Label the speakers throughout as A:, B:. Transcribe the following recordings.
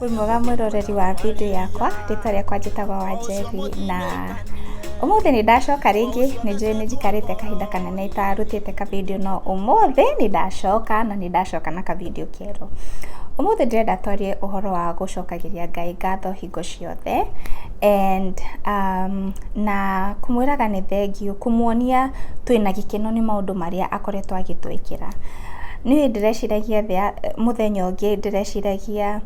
A: Wĩ mwega mwĩroreri wa video yakwa, rĩtwa rĩakwa njĩtagwo Wanjebi na ũmũthĩ nĩ ndacoka rĩngĩ, nĩ njũĩ nĩ njikarĩte kahinda kanene itarutĩte ka video no ũmũthĩ nĩ ndacoka na nĩ ndacoka na ka video kerũ. Ũmũthĩ ndĩrenda twarie ũhoro wa gũcokagĩria Ngai ngatho hingo ciothe and na kũmwĩraga nĩ thengiũ, kũmuonia twĩna gĩkeno nĩ maũndũ marĩa akoretwo agĩtwĩkĩra. Niĩ ndĩreciragia thĩ ya, mũthenya ũngĩ ndĩreciragia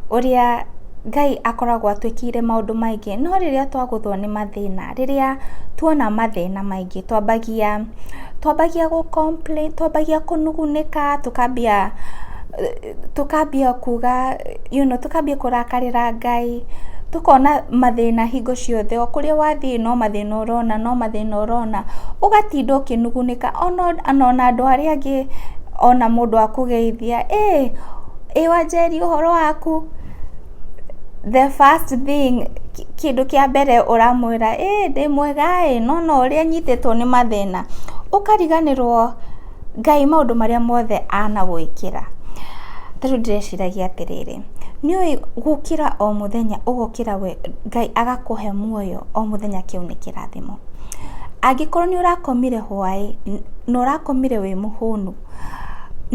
A: ũrĩa Ngai akoragwo atwĩkĩire maũndũ maingĩ, no rĩrĩa twagũthwo nĩ mathĩna, rĩrĩa twona mathĩna maingĩ twambagia, twambagia gũ complain, twambagia kũnugunĩka, tũkambia. tũkambia kuga you know tũkambia kũrakarĩra Ngai, tũkona mathĩna hingo ciothe, o kũrĩa wathiĩ no mathĩna ũrona, no mathĩna ũrona, ũgatinda ũkĩnugunĩka ona ona andũ arĩa angĩ ona mũndũ akũgeithia, ĩĩ ĩĩ wanjeri ũhoro waku? The first thing kĩndũ kĩa mbere ũramwĩra, ĩĩ ndĩ mwega ĩĩ, no ona ũrĩa nyitĩtwo nĩ mathĩna, ũkariganĩrwo. Ngai maũndũ marĩa mothe anagwĩkĩra, ta rĩu ndĩreciragia atĩrĩrĩ, nĩ ũĩ gũkĩra o mũthenya ũgokĩra we Ngai agakũhe muoyo o mũthenya kĩu nĩ kĩrathimo. Angĩkorwo nĩ ũrakomire hwaĩ na ũrakomire wĩ mũhũnu,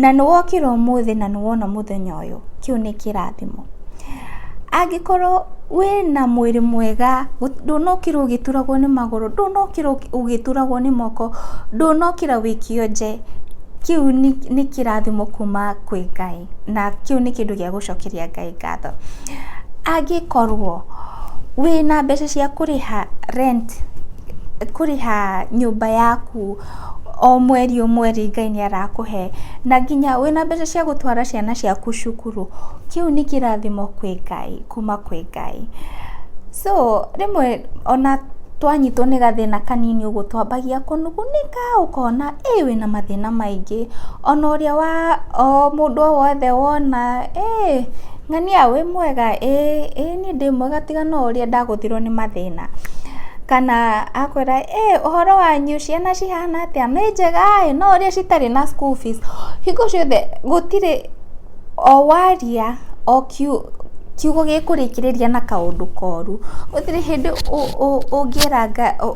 A: na nĩ wokĩra ũmũthĩ na nĩ wona mũthenya ũyũ, kĩu nĩ kĩrathimo. Angĩkorwo wĩna mwĩrĩ mwega, ndũnokĩra ũgĩturagwo nĩ magũrũ, ndũnokĩra ũgĩturagwo nĩ moko, ndũnokĩra ũikio nje, kĩu nĩ kĩrathimo kuma kwĩ Ngai, na kĩu nĩ kĩndũ gĩa gũcokeria Ngai ngatho. Angĩkorwo wĩna mbeca cia kũrĩha rent, kũrĩha nyũmba yaku. O mweri o mweri Ngai nĩ arakũhe, na nginya wĩna mbeca cia gũtwara ciana ciaku cukuru, kĩu nĩ kĩrathimo kwĩ Ngai, kuma kwĩ Ngai. So rĩmwe ona twanyitwo nĩ gathĩna kanini ũguo twambagia kũnugunĩka ũkona ĩĩ wĩna mathĩna maingĩ, ona ũrĩa wa, o mũndũ o wothe wona ĩĩ ng'ania wĩ mwega, ĩĩ ĩĩ. Niĩ ndĩ mwega tiga no ũrĩa ndagũthirwo nĩ mathĩna. Kana akwĩra ĩĩ ũhoro wanyu ciana cihana atĩa, nĩ njega ĩĩ, no ũrĩa citarĩ na school fees. Hingo ciothe gũtirĩ o waria o kiugo gĩkũrĩkĩrĩria na kaũndũ koru. Gũtirĩ hĩndĩ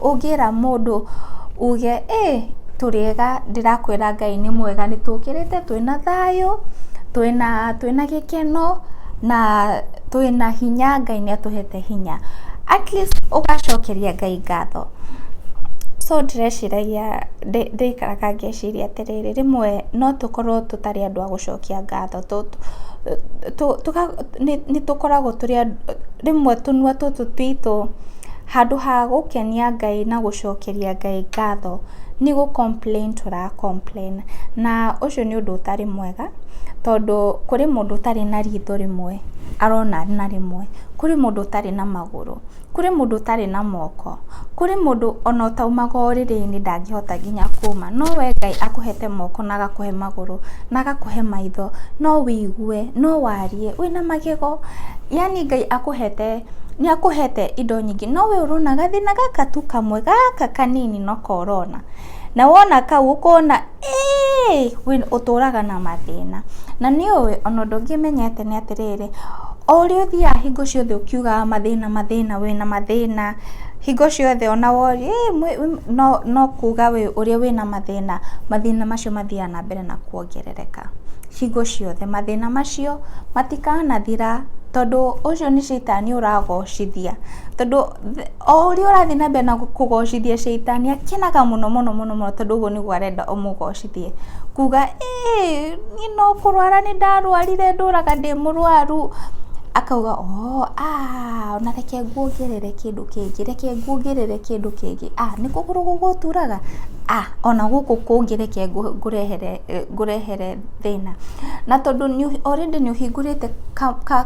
A: ũngĩra mũndũ uge ĩĩ tũrĩ ega, ndĩrakwĩra Ngai nĩ mwega nĩ tũkĩrĩte twĩna thayũ, twĩna gĩkeno na... Twĩna hinya Ngai nĩ atũhete hinya. At least ũgacokeria Ngai ngatho. So ndĩreciragia, ndĩraikaraga ngeciria atĩrĩrĩ, rĩmwe no tũkorwo tũtarĩ andũ a gũcokia ngatho, nĩ tũkoragwo tũrĩ andũ, rĩmwe tũnua tũtũ twitũ handũ ha gũkenia Ngai na gũcokeria Ngai ngatho, nĩ gũ complain tũra complain na ũcio nĩ ũndũ ũtarĩ mwega. Tondũ kũrĩ mũndũ ũtarĩ na ritho rĩmwe arona na rĩmwe, kũrĩ mũndũ ũtarĩ na magũrũ, kũrĩ mũndũ ũtarĩ na moko, kũrĩ mũndũ ona ũtaumaga ũrĩrĩ-inĩ ndangĩhota nginya kuma, no we Ngai akũhete moko na agakũhe magũrũ na agakũhe maitho, no wĩigue, no warie wĩna magego, yaani Ngai akũhete, nĩ akũhete indo nyingĩ, no we ũrona gathĩna gaka tu kamwe, gaka kanini noko ũrona. Na wona kau ũkona ĩĩ we ũtũraga na mathĩna. Na nĩ ũĩ ona ũndũ ũngĩ menyete nĩ atĩrĩrĩ, o ũrĩa ũthiaga hingo ciothe ũkiugaga mathĩna mathĩna wĩna mathĩna, hingo ciothe ona woria ĩĩ no kuga we ũrĩa wĩna mathĩna, mathĩna macio mathiaga na mbere na kuongerereka hingo ciothe. Mathĩna macio matikanathira tondũ ũcio nĩ caitani ũragocithia tondũ... o ũrĩa ũrathiĩ na mbere na kũgocithia caitani akenaga mũno mũno mũno mũno tondũ ũguo nĩguo arenda ũmũgocithie. Kuga ĩĩ niĩ no kũrwara nĩ ndarwarire ndũraga ndĩ mũrwaru, akauga oo aa ona reke nguongerere kĩndũ kĩngĩ, reke nguongerere kĩndũ kĩngĩ, aa nĩ kũgũrũ gũgũturaga? aa ona gũkũ kũngĩ reke ngũrehere. ngũrehere thĩna. Na tondũ already nĩ ũhingũrĩte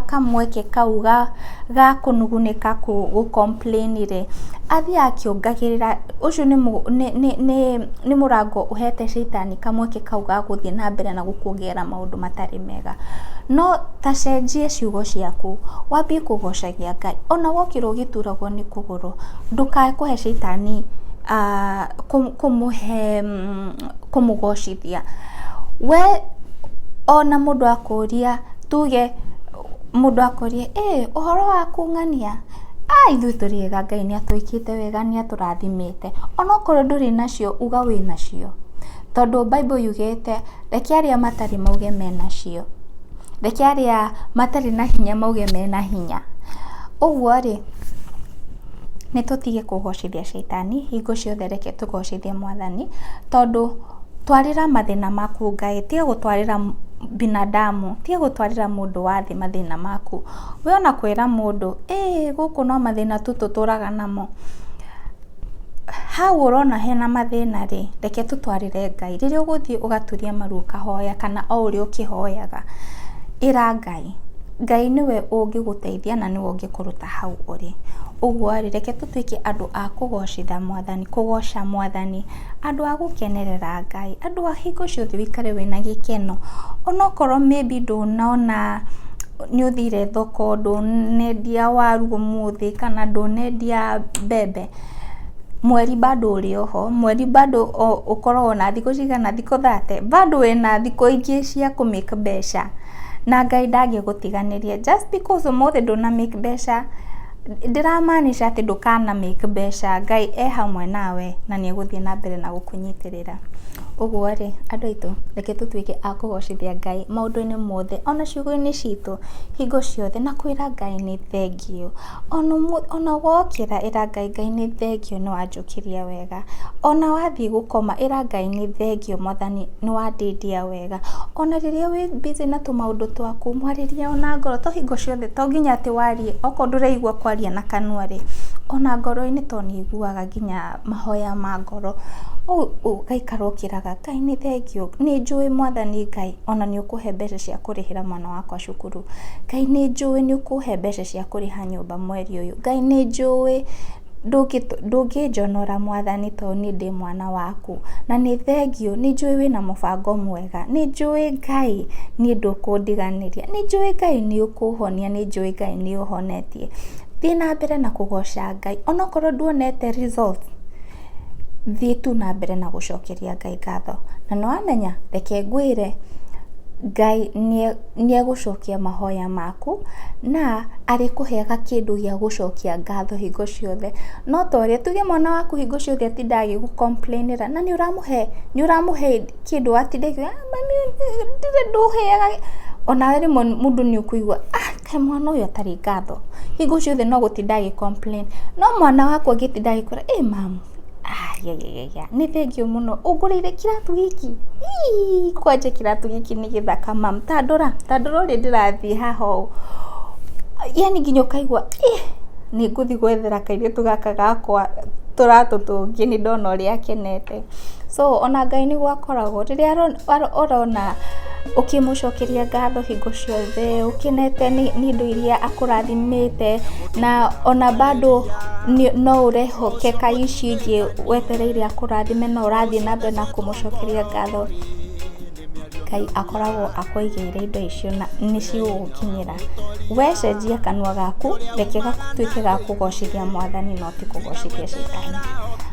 A: kamweke kau ga kũnugunĩka gũ complain rĩ, athiĩ akĩongagĩrĩra, ũcio nĩ mũrango ũhete caitani kamweke kau ga gũthiĩ na mbere na gũkuongerera maũndũ matarĩ mega. No ta cenjia ciugo ciaku, wambie kũgocagia Ngai. Ona wokĩra ũgĩturagwo nĩ kũgũrũ, ndũkae kũhe caitani kũmũhe... kũmũgocithia. We ona mũndũ akũria tuge mũndũ akũria ĩ ũhoro waku ng'ania? A ithuĩ tũrĩ ega Ngai nĩ atwĩkĩte wega nĩ atũrathimĩte. Ona okorwo ndũrĩ nacio uga wĩ nacio. Tondũ Bible yugĩte reke arĩa matarĩ mauge menacio. Reke arĩa matarĩ na hinya mauge mena hinya. Ũguo rĩ... Nĩ tũtige kũgocithia caitani, hingo ciothe reke tũgocithie mwathani, tondũ twarĩra mathĩna maku Ngai, tiga gũtwarĩra binadamu, tiga gũtwarĩra mũndũ wa thĩ mathĩna maku. We ona kwĩra mũndũ, ĩĩ gũkũ no mathĩna tu tũtũraga namo, hau ũrona hena mathĩna rĩ, reke tũtwarĩre Ngai. Rĩrĩa ũgũthiĩ ũgaturie maru ũkahoya kana o ũrĩa ũkĩhoyaga, ĩra Ngai. Ngai. Ngai nĩwe ũngĩgũteithia na nĩwe ũngĩkũruta hau ũrĩ. Ũguo rĩ, reke tũtuĩke andũ a kũgocitha Mwathani, kũgoca Mwathani, andũ a gũkenerera Ngai, andũ a hingo ciothe ũikare wĩna gĩkeno. Onokorwo maybe ndũnona, nĩ ũthire thoko, ndũnendia waru ũmũthĩ, kana ndũnendia mbembe, mweri bado ũrĩ o ho, mweri bado ũkoragwo na thikũ cigana, thikũ thate, bado wĩna thikũ ingĩ cia kũ make mbeca. na Ngai ndangĩgũtiganĩria. Just because ũmũthĩ ndũna make mbeca, ndĩra maanisha atĩ ndũkana make mbeca. Ngai e hamwe nawe na nĩ egũthiĩ na mbere na gũkũnyitĩrĩra. Ũguo rĩ, andũ aitũ, reke tũtuĩke a kũgocithia Ngai maũndũ-inĩ mothe, o na ciugo-inĩ citũ, hingo ciothe, na kwĩra Ngai nĩ thengiũ. O na wokĩra ĩra Ngai, Ngai nĩ thengiũ nĩ wanjũkĩria wega. O na wathiĩ gũkoma, ĩra Ngai nĩ thengiũ mwathani nĩ wandĩndia wega. wega. Ona rĩrĩa wĩ busy na tũmaũndũ twaku, mwarĩrie ona ngoro, to hingo ciothe, to nginya atĩ warie, okorwo ndũraigua kwaria na kanua rĩ, ona ngoro-inĩ to nĩ ũiguaga nginya mahoya ma ngoro. Rĩu ũgaikara ũkĩraga, Ngai nĩ thengiũ, nĩ njũĩ mwathani Ngai ona nĩ ũkũhe mbeca cia kũrĩhĩra mwana wakwa cukuru. Ngai nĩ njũĩ nĩ ũkũhe mbeca cia kũrĩha nyũmba mweri ũyũ. Ngai nĩ njũĩ... Ndũngĩnjonora mwathani tondũ niĩ ndĩ mwana waku, na nĩ thengiũ, nĩ njũĩ wĩna mũbango mwega, nĩ njũĩ Ngai niĩ ndũkũndiganĩria, nĩ njũĩ Ngai nĩ ũkũhonia, nĩ njũĩ Ngai nĩ ũhonetie. Thiĩ na mbere na kũgoca Ngai, ona okorwo nduonete result, thiĩ tu na mbere na gũcokeria Ngai ngatho. Na nĩ wamenya, reke ngwĩre, Ngai nĩ e... nĩ egũcokia mahoya maku na arĩkũheaga kĩndũ gĩa gũcokia ngatho hingo ciothe. No ta ũrĩa, tuge mwana waku hingo ciothe atindaga agĩgũ complain ĩra na nĩ ũramũhe, nĩ ũramũhe kĩndũ atinda akiuga mami ndirĩ ndũheaga gĩ, onawe rĩmwe mũndũ nĩ ũkũigua ah kaĩ mwana ũyũ atarĩ ngatho, hingo ciothe no gũtinda agĩ complain. No mwana waku angĩtinda agĩkwĩra ĩ mamu. Ayayaya, nĩ thengiũ mũno, ũngũrĩire kĩratũ gĩkĩ? Iiih, kwanja kĩratũ gĩkĩ nĩ gĩthaka ma. Ta ndora, ta ndora ũrĩa ndĩrathiĩ haha ũũ, yaani nginya ũkaigua iih, nĩ ngũthiĩ gwethera kairĩtu gaka gakwa tũratũ tũngĩ, nĩ ndona ũrĩa akenete. So ona Ngai nĩ gũkoragwo, rĩrĩa arona. Ũrona ũkĩmũcokeria ngatho hingo ciothe ũkenete nĩ indo iria akũrathimĩte na ona bado no ũrehoke kaĩ ici ingĩ wetereire akũrathime no ũrathiĩ na mbere na kũmũcokeria ngatho. Ngai akoragwo akũigĩire indo icio na nĩ cigũgũkinyĩra. We cenjia kanua gaku reke gatuĩke ga kũgocithia Mwathani no ti kũgocithia Caitani.